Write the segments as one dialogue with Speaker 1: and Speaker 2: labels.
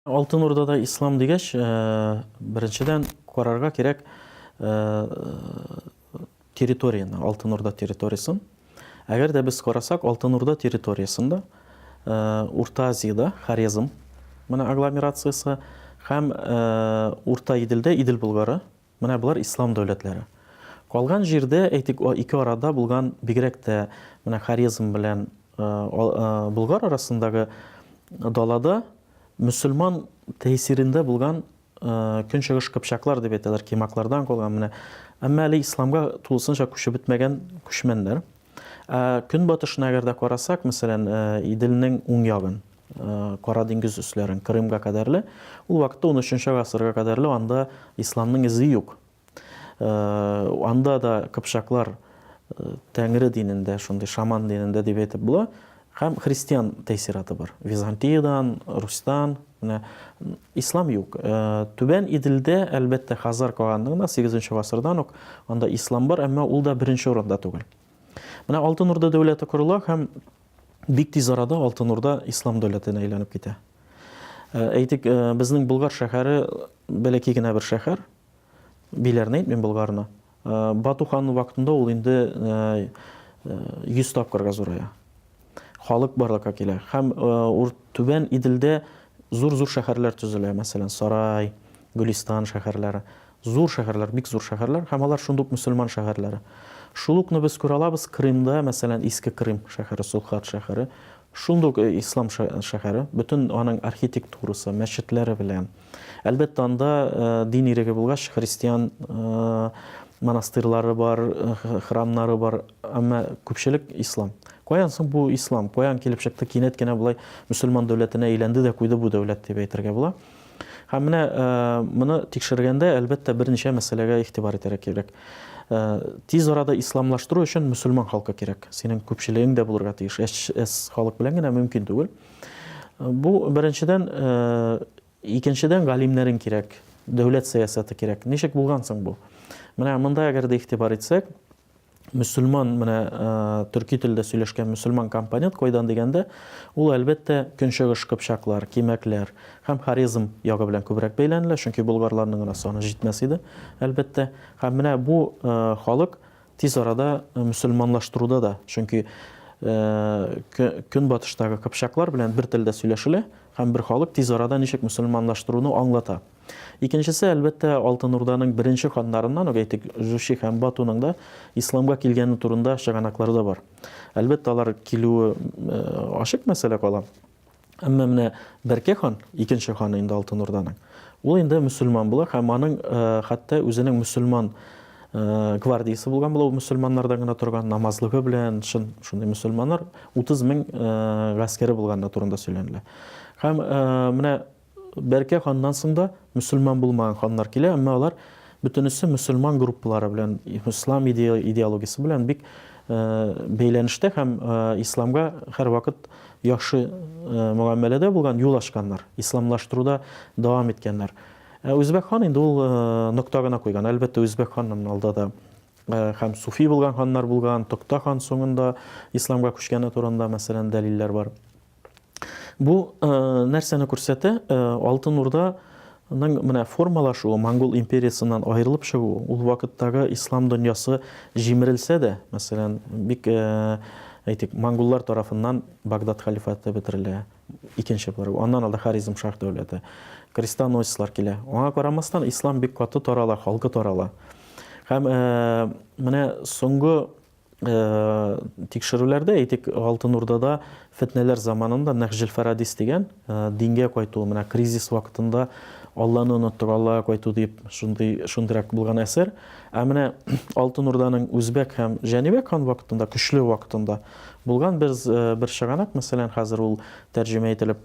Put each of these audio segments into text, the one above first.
Speaker 1: Алтын Урдада ислам дигәч, э, беренчедән карарга кирәк э, территорияне, Алтын Урда территориясын. Әгәр дә без карасак, Алтын Урда территориясендә э, Урта Азиядә Хорезм менә агломерациясе һәм Урта Иделдә Идел Болгары Менә болар ислам дәүләтләре. Калган җирдә, әйтик, ике арада булган, бигрәк тә менә Хорезм белән Болгар арасындагы далада мөселман тәэсирендә булган көнчыгыш кыпчаклар дип әйтәләр, кимаклардан калган менә. Әмма әле исламга тулысынча күчеп бетмәгән күчмәннәр. Ә көнбатышына әгәр дә карасак, мәсәлән, Иделнең уң ягын, Кара диңгез өсләрен, Крымга кадәрле, ул вакытта 13 гасырга кадәрле анда исламның эзе юк. Анда да кыпчаклар Тәңре динендә, шундый шаман динендә дип әйтеп була, Һәм христиан тәэсираты бар. Византиядән, Русьтан, менә ислам юк. Түбән Иделдә, әлбәттә, Хазар каганлыгында 8 гасырдан ук анда ислам бар, әмма ул да беренче урында түгел. Менә Алтын Урда дәүләте корыла һәм бик тиз арада Алтын Урда ислам дәүләтенә әйләнеп китә. Әйтик, безнең Болгар шәһәре бәләкәй генә бер шәһәр, Биләрне әйтмим, Болгарны. Бату ханның вакытында ул инде 100 тапкырга зурая. Халык барлыкка килә. Һәм Түбән Иделдә зур-зур шәһәрләр төзелә, мәсәлән, Сарай, Гөлистан шәһәрләре. Зур шәһәрләр, бик зур шәһәрләр, һәм алар шундук мөселман шәһәрләре. Шул укны без күрә алабыз Крымда, мәсәлән, Иске Крым шәһәре, Сулхат шәһәре. Шундук ислам шәһәре, бөтен аның архитектурасы, мәчетләре белән. Әлбәттә, анда дин иреге булгач, христиан монастырьлары бар, храмнары бар, әмма күпчелек ислам. Каян соң бу ислам? Каян килеп чыкты? Кинәт кенә болай мөселман дәүләтенә әйләнде дә куйды бу дәүләт дип әйтергә була. Һәм менә моны тикшергәндә, әлбәттә, берничә мәсьәләгә игътибар итәргә кирәк. Тиз арада исламлаштыру өчен мөселман халкы кирәк. Синең күпчелегең дә булырга тиеш. Әс халык белән генә мөмкин түгел. Бу беренчедән, икенчедән галимнәрен кирәк, дәүләт сәясәте кирәк. Ничек булган соң бу? Менә монда әгәр дә игътибар итсәк, мөселман менә төрки телдә сөйләшкән мөселман компонент кайдан дигәндә, ул әлбәттә көнчыгыш кыпчаклар, кимәкләр һәм Хорезм ягы белән күбрәк бәйләнелә, чөнки болгарларның гына саны җитмәс иде, әлбәттә. Һәм менә бу халык Тиз арада мөселманлаштыруда да, чөнки Көнбатыштагы кыпчаклар белән бер телдә сөйләшелә һәм бер халык тиз арада ничек мөселманлаштыруны аңлата. Икенчесе, әлбәттә, Алтын Урданың беренче ханнарыннан ук әйтик, Жучи һәм Батуның да исламга килгәне турында чыганаклар да бар. Әлбәттә, алар килүе ачык мәсьәлә кала. Әмма менә Бәркә хан, икенче ханы инде Алтын Урданың, ул инде мөселман була һәм аның э, хәтта үзенең мөселман Э, гвардиясы булган була, ул мөселманнардан гына торган, намазлыгы белән, шын шундый мөселманнар 30 мең э, гаскәре булганы турында сөйләнелә. Һәм э, менә Бәркә ханнан соң да мөселман булмаган ханнар килә, әмма алар бөтенесе мөселман группалары белән, ислам идеологиясе белән бик бәйләнештә һәм исламга һәрвакыт яхшы мөгамәләдә булган, юл ачканнар, исламлаштыруда дәвам иткәннәр. Ә Үзбәк хан инде ул нокта гына куйган. Әлбәттә, Үзбәк ханнан алда да һәм суфи булган ханнар булган, Токта хан соңында исламга күчкәне турында, мәсәлән, дәлилләр бар. Бу нәрсәне күрсәтә? Алтын Урда ның менә формалашуы, монгол империясыннан аерылып чыгуы, ул вакыттагы ислам дөньясы җимерелсә дә, мәсәлән, бик әйтик, монголлар тарафыннан Багдад халифаты бетерелә, икенче буларак, аннан алда Харизм шах дәүләте, крестоносецлар килә. Аңа карамастан, ислам бик каты тарала, халкы тарала. Һәм менә соңгы тикшерүләрдә, әйтик, Алтын Урдада фетнәләр заманында Нәхҗел Фарадис дигән дингә кайту, менә кризис вакытында Алланы оныттык, Аллага кайту дип, шундый, шундыйрак булган әсәр. Ә менә Алтын Урданың Үзбәк һәм Җәнибәк хан вакытында, көчле вакытында булган бер, бер чыганак, мәсәлән, хәзер ул тәрҗемә ителеп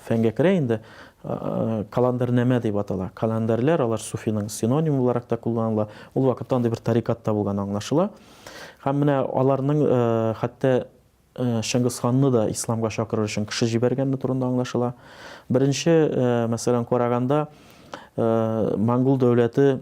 Speaker 1: фәнгә керә инде. Каландарнамә дип атала. Каландарлар, алар суфиның синонимы буларак та кулланыла. Ул вакытта андый бер тарикат та булганы аңлашыла. Һәм менә аларның хәтта Чыңгыз ханны да исламга чакырыр өчен кеше җибәргәне турында аңлашыла. Беренче мәсьәлән караганда, монгол дәүләте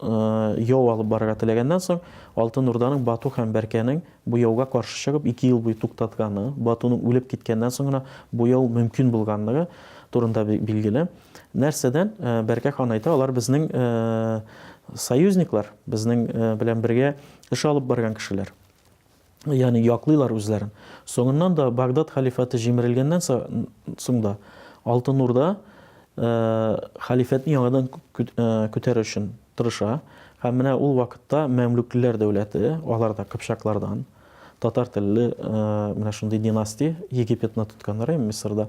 Speaker 1: яу алып барырга теләгәннән соң, Алтын Урданың Бату һәм Бәркәнең бу яуга каршы чыгып, ике ел буе туктатканы, Батуның үлеп киткәннән соң гына бу яу мөмкин булганлыгы турында билгеле. Нәрсәдән? Бәркә хан әйтә, алар безнең союзниклар, безнең белән бергә эш алып барган кешеләр. ягъни яклыйлар үзләрен. Соңыннан да Багдад халифаты җимерелгәннән соң да Алтын Урда халифәтне яңадан күтәрер өчен тырыша. Һәм менә ул вакытта мәмлүклеләр дәүләте, алар да кыпчаклардан, татар телле менә шундый династия, Египетны тотканнар, Мисырда.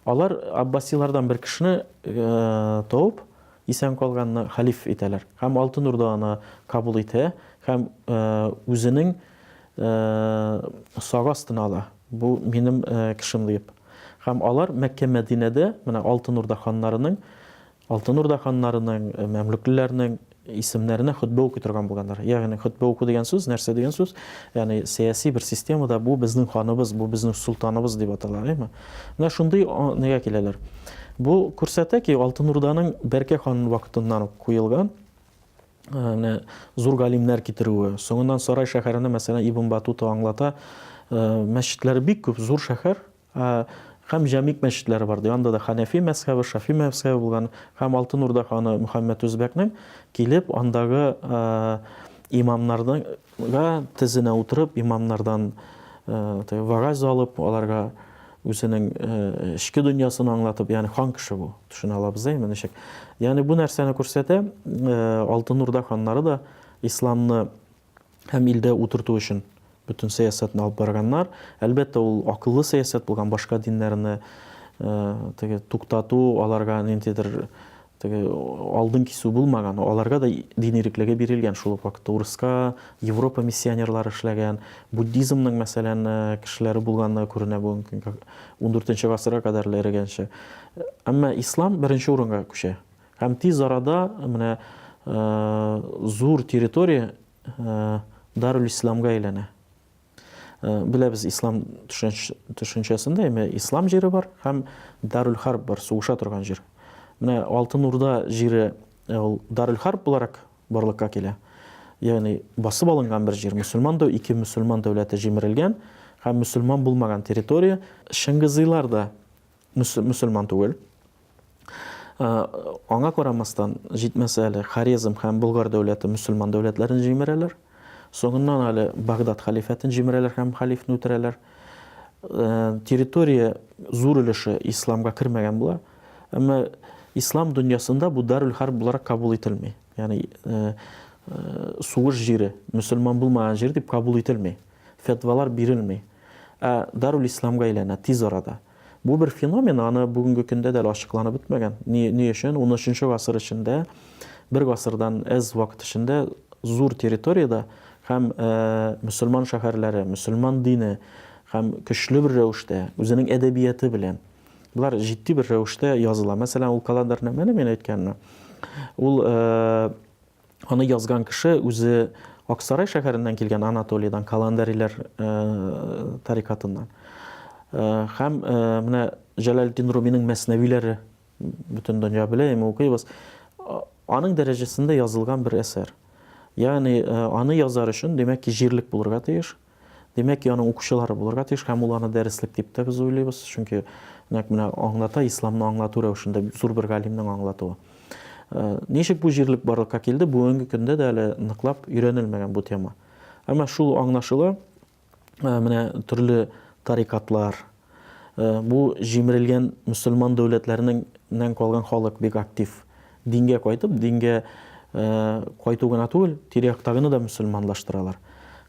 Speaker 1: Алар аббасилардан бер кешене табып, Исән калганны хәлиф итәләр һәм Алтын Урда аны кабул итә һәм үзенең сагы астына ала, бу минем кешем диеп. Һәм алар Мәккә-Мәдинәдә менә Алтын Урда ханнарының, Алтын Урда ханнарының, мәмлүклеләрнең исемнәренә хөтбә укый торган булганнар. Ягъни хөтбә уку дигән сүз, нәрсә дигән сүз? Ягъни сәяси бер системада бу безнең ханыбыз, бу безнең солтаныбыз дип атала, әйеме? Менә шундый нигә киләләр. Бу күрсәтә ки, Алтын Урданың Бәркә хан вакытыннан ук куелган менә зур галимнәр китерүе. Соңыннан Сарай шәһәренә, мәсәлән, Ибн Батута аңлата, мәчетләре бик күп, зур шәһәр, һәм җәмик мәчетләре бар. Анда да Ханәфи мәзхәбе, Шафи мәзхәбе булган һәм Алтын Урда ханы Мөхәммәд Үзбәкнең килеп андагы имамнарның Га тезенә утырып, имамнардан вәгазь алып, аларга үзенең эчке дөньясын аңлатып, ягъни хан кеше бу. Төшенә алабыз да инде ничек. Ягъни бу нәрсәне күрсәтә, Алтын Урда ханнары да исламны һәм илдә утырту өчен бөтен сәясәтне алып барганнар. Әлбәттә, ул акыллы сәясәт булган, башка диннәрне теге туктату, аларга ниндидер Теге алдын кисү булмаган, аларга да дин иреклеге бирелгән шул ук вакытта. Урыска Европа миссионерлары эшләгән, буддизмның, мәсәлән, кешеләре булганлыгы күренә бу ундүртенче гасырга кадәр эрегәнче. Әмма ислам беренче урынга күчә. Һәм тиз арада менә зур территория Дарул-Исламга әйләнә. Э, беләбез ислам төшенчәсендә әмә ислам җире бар һәм дарүл харб бар сугыша торган җир менә алтын урда җире э, ул дарүл харб буларак барлыкка килә ягъни басып алынган бер җир мөселман да ике мөселман дәүләте җимерелгән һәм мөселман булмаган территория шыңгызыйлар да мөселман түгел. Аңа карамастан, җитмәсә әле Хорезм һәм Болгар дәүләте мөселман дәүләтләрен җимерәләр. Соңыннан әле Багдад халифәтен җимерәләр һәм халифны үтерәләр. Территория зур өлеше исламга кермәгән була. Әмма ислам дөньясында бу Даруль Харб буларак кабул ителми. Ягъни сугыш җире, мөселман булмаган җир дип кабул ителми. Фетвалар бирелми. Ә Даруль Исламга әйләнә тиз арада. Бу бер феномен, аны бүгенге көндә дә әле ачыкланып бетмәгән. Ни, ни өчен унөченче гасыр эчендә, бер гасырдан әз вакыт эчендә зур территориядә һәм э, мөселман шәһәрләре, мөселман дине һәм көчле бер рәвештә, үзенең әдәбияты белән, Болар җитди бер рәвештә языла. Мәсәлән, ул календарьнамәне мин әйткәнне, ул э, Аны язган кеше үзе Аксарай шәһәреннән килгән Анатолийдан, Каландариләр тарикатыннан. Һәм менә Җәләлетдин Руминың мәснәвиләре бөтен дөнья белә, әмма укыйбыз. Аның дәрәҗәсендә язылган бер әсәр. Ягъни аны язар өчен, димәк ки, җирлек булырга тиеш. Димәк ки, аның укучылары булырга тиеш һәм ул аны дәреслек дип тә без уйлыйбыз, чөнки нәкъ менә аңлата, исламны аңлату рәвешендә зур бер галимнең аңлатуы. Ничек бу җирлек барлыкка килде, бүгенге көндә дә әле ныклап өйрәнелмәгән бу тема. Әмма шул аңлашыла, менә төрле тарикатлар, Бу җимерелгән мөселман дәүләтләренең нән калган халык бик актив. Дингә кайтып, дингә кайту гына түгел, тирә-яктагыны да мөселманлаштыралар.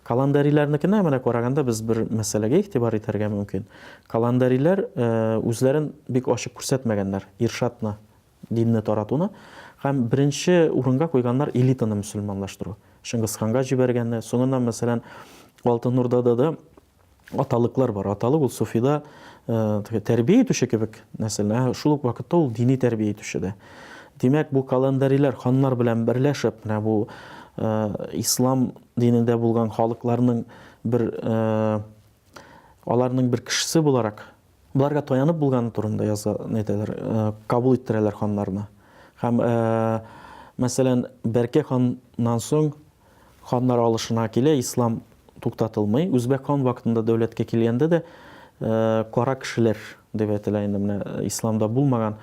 Speaker 1: Каландариләрнекенә менә караганда без бер мәсьәләгә игътибар итәргә мөмкин. Каландариләр үзләрен бик ачык күрсәтмәгәннәр, иршатны, динне таратуны һәм беренче урынга куйганнар элитаны мөселманлаштыру. Чыңгызханга җибәргәнне, соңыннан мәсәлән, Алтын Урдада да аталыклар бар. Аталык ул суфида э, тәрбия итүче кебек нәсел, ә шул ук вакытта ул дини тәрбия итүче дә. Димәк, бу календарилар ханнар белән берләшеп, менә бу э, ислам динендә булган халыкларның бер э, аларның бер кешесе буларак Боларга таянып булганы турында яза, әйтәләр, кабул иттерәләр ханнарны. Һәм, мәсәлән, Бәркәй ханнан соң ханнар алышына килә, ислам туктатылмый. Үзбәк хан вакытында дәүләткә килгәндә дә кара кешеләр дип әйтелә инде менә исламда булмаган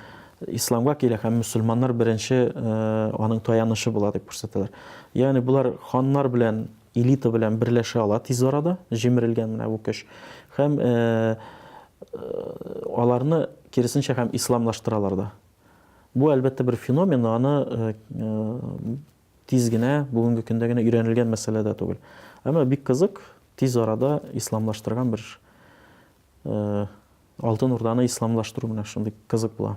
Speaker 1: исламга килә һәм мөселманнар беренче аның таянышы була дип күрсәтәләр. Ягъни болар ханнар белән Элита белән берләшә ала тиз арада, җимерелгән менә бу көч. Һәм аларны киресенчә һәм исламлаштыралар да. Бу әлбәттә бер феномен, аны тиз генә, бүгенге көндә генә өйрәнелгән мәсьәлә дә түгел. Әмма бик кызык, тиз арада исламлаштырган бер Алтын Урданы исламлаштыру менә шундый кызык була.